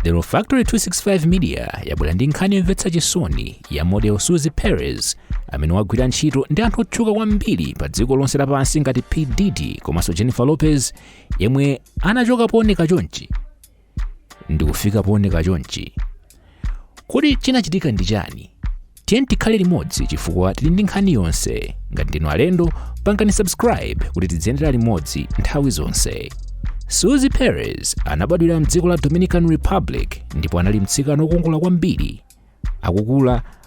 The Factory 265 Media yabwera ndi nkhani yomvetsa chisoni ya model Suzy Perez amene wagwira ntchito ndi anthu otchuka kwambiri pa dziko lonse lapansi ngati P. Diddy komanso Jennifer Lopez yemwe anachoka pooneka chonchi ndi kufika pooneka chonchi Kodi chinachitika ndi chani? Tiyeni tikhale limodzi chifukwa tili ndi nkhani yonse. Ngati ndinu alendo, pangani subscribe kuti tidziyendera limodzi nthawi zonse. Suzy Perez anabadwira mdziko la Dominican Republic ndipo anali mtsikana wokongola kwambiri. Akukula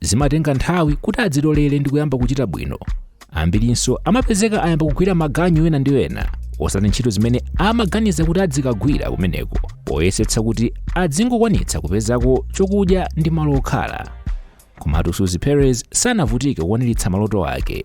zimatenga nthawi kuti adzitolere ndi kuyamba kuchita bwino ambirinso amapezeka ayamba kugwira maganyu ena ndi ena osati ntchito zimene amaganiza kuti adzikagwira kumeneko poyesetsa kuti adzingokwanitsa kupezako chokudya ndi malo okhala komatu suzy perez sanavutike kukwaniritsa maloto ake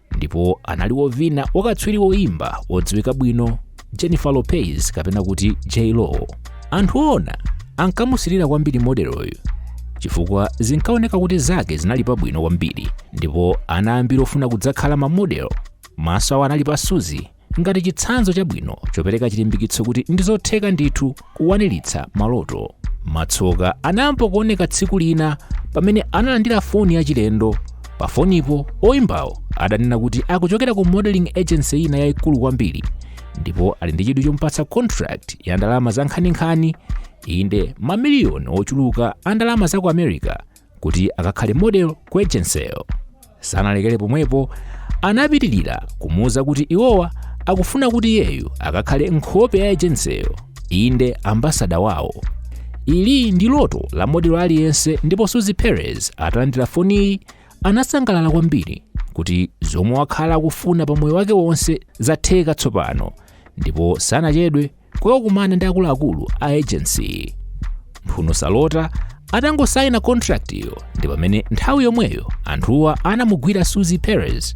ndipo anali wovina wakatswiri woimba wodziwika bwino jennifer lopez kapena kuti j-lo anthu owona ankamusirira kwambiri modeloyu chifukwa zinkaoneka kuti zake zinali pabwino kwambiri ndipo ana ambiri ofuna kudzakhala mamodelo maso awo anali pa suzy ngati chitsanzo chabwino chopereka chilimbikitso kuti ndi zotheka ndithu kukwaniritsa maloto matsoka anayamba kuoneka tsiku lina pamene analandira foni yachilendo pa fonipo oyimbawo ananena kuti akuchokera ku modeling agency ina yayikulu kwambiri ndipo ali ndi chidwi chomupatsa contract ya ndalama za nkhaninkhani inde mamiliyoni ochuluka a ndalama za ku america kuti akakhale model ku ejenseyo sanalekere pomwepo anapitirira kumuuza kuti iwowa akufuna kuti iyeyu akakhale nkhope ya ejenseyo inde ambasada wawo ili ndi loto la modelo aliyense ndipo suzy perez atalandira foniyi anasangalala kwambiri kuti zomwe wakhala akufuna pa moyo wake wonse zatheka tsopano ndipo sanachedwe kukakumana ndi akuluakulu a agency mphuno salota atangosaina contractiyo ndi pamene nthawi yomweyo anthuwa anamugwira suzy perez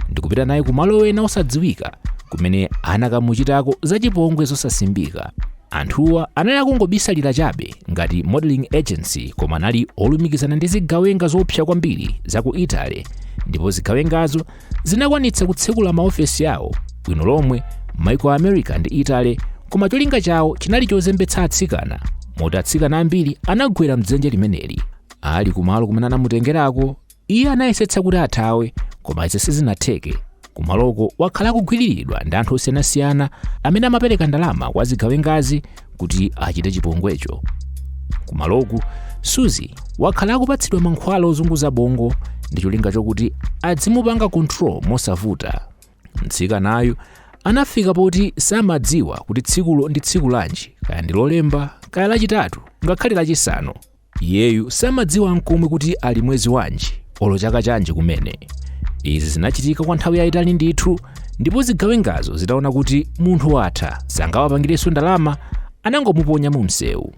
ndikupita naye ku malo ena osadziwika kumene anakamuchitako zachipongwe zosasimbika anthuwa anali akungobisalira chabe ngati modeling agency koma anali olumikizana ndi zigawenga zoopsa kwambiri za ku italy ndipo zigawengazo zinakwanitsa kutsekula maofesi awo bwino lomwe m'maiko a america ndi italy koma cholinga chawo chinali chozembetsa atsikana moti atsikana ambiri anagwera mdzenje limeneli ali kumalo kumene anamutengerako iye anayesetsa kuti athawe koma izi sizinatheke kumaloko wakhala akugwiriridwa ndi anthu osiyanasiyana amene amapereka ndalama kwa zigawengazi kuti achite chipongwecho kumaloku suzi wakhala akupatsidwa mankhwala ozunguza bongo ndi cholinga chokuti adzimupanga control mosavuta mtsikanayu anafika poti samadziwa kuti tsikulo ndi tsiku lanji kaya ndi lolemba kaya lachitatu ngakhale lachisanu Iyeyu samadziwa n'komwe kuti ali mwezi wanji olo chaka chanji kumene. Izi zinachitika kwa nthawi yayitali ndithu ndipo zigawengazo zitaona kuti munthu watha sangawapangirenso ndalama anangomuponya mu msewu.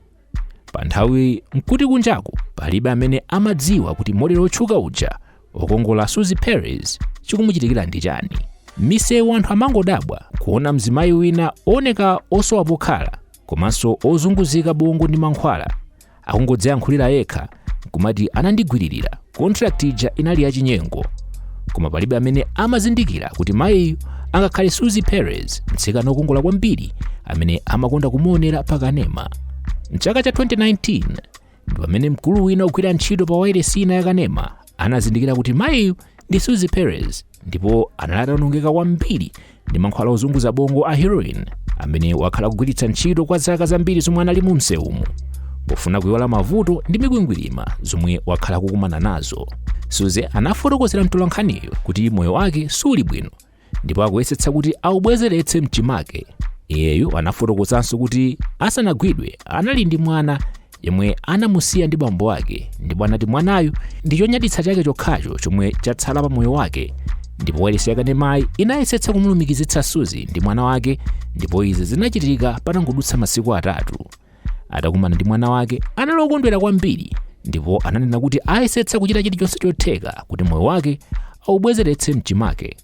Pa nthawi nkuti kunjaku palibe amene amadziwa kuti model otchuka uja okongola Suzi Perez chikumuchitikira ndi chani. Misewu anthu amangodabwa kuona mzimayi wina ooneka osowa pokhala komanso ozunguzika bongo ndi mankhwala akungodziyankhulira yekha kumati anandigwiririra contract ija inali yachinyengo koma palibe amene amazindikira kuti mayiyu angakhale suzi perez mtsikana wokongola kwambiri amene amakonda kumuonera pakanema mchaka cha 2019 pamene mkulu wina ogwira ntchito pa wailesi ina yakanema anazindikira kuti mayiyu ndi suzi perez ndipo anali ataonongeka kwambiri ndi mankhwala ozunguza bongo a heroin amene wakhala akugwiritsa ntchito kwa zaka zambiri zomwe anali mu msewumu pofuna kuiwala mavuto ndi mikwingwirima zomwe wakhala akukumana nazo suzi anafotokozera mtolankhaniyo kuti moyo wake suli bwino ndipo akuyesetsa kuti aubwezeretse mchimake iyeyu anafotokozanso kuti asanagwidwe anali ndi mwana yemwe anamusiya ndi bambo ake ndipo anati mwanayu ndi chonyaditsa chake chokhacho chomwe chatsala pa moyo wake ndipo wailesi yakanemayi inayesetsa kumulumikizitsa suzi ndi mwana wake ndipo izi zinachitika patangodutsa masiku atatu Atakumana ndi mwana wake, anali okondwera kwambiri ndipo ananena kuti ayesetsa kuchita chilichonse chotheka kuti moyo wake aubwezeretse mchimake.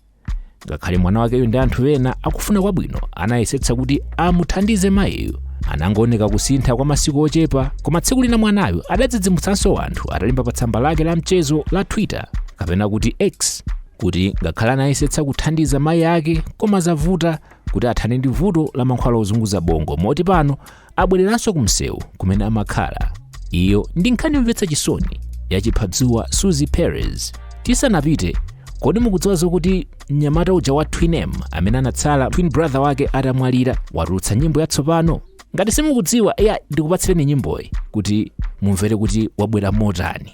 Ngakhale mwana wakeyo ndi anthu ena akufuna kwabwino anayesetsa kuti amuthandize mayiyo. Anangooneka kusintha kwa masiku ochepa, koma tsiku lina mwanayo adadzidzimutsanso anthu atalemba pa tsamba lake la mchezo la Twitter kapena kuti X kuti ngakhale anayesetsa kuthandiza mayi ake koma zavuta kuti athane ndi vuto la mankhwala ozunguza bongo moti pano abwereranso ku msewu kumene amakhala iyo ndi nkhani yomvetsa chisoni ya chiphadzuwa suzi perez tisanapite kodi mukudziwa zokuti mnyamata uja wa twin m amene anatsala twin brother wake atamwalira watulutsa nyimbo yatsopano ngati simukudziwa eya ndikupatsireni nyimboyi kuti mumvere kuti wabwera motani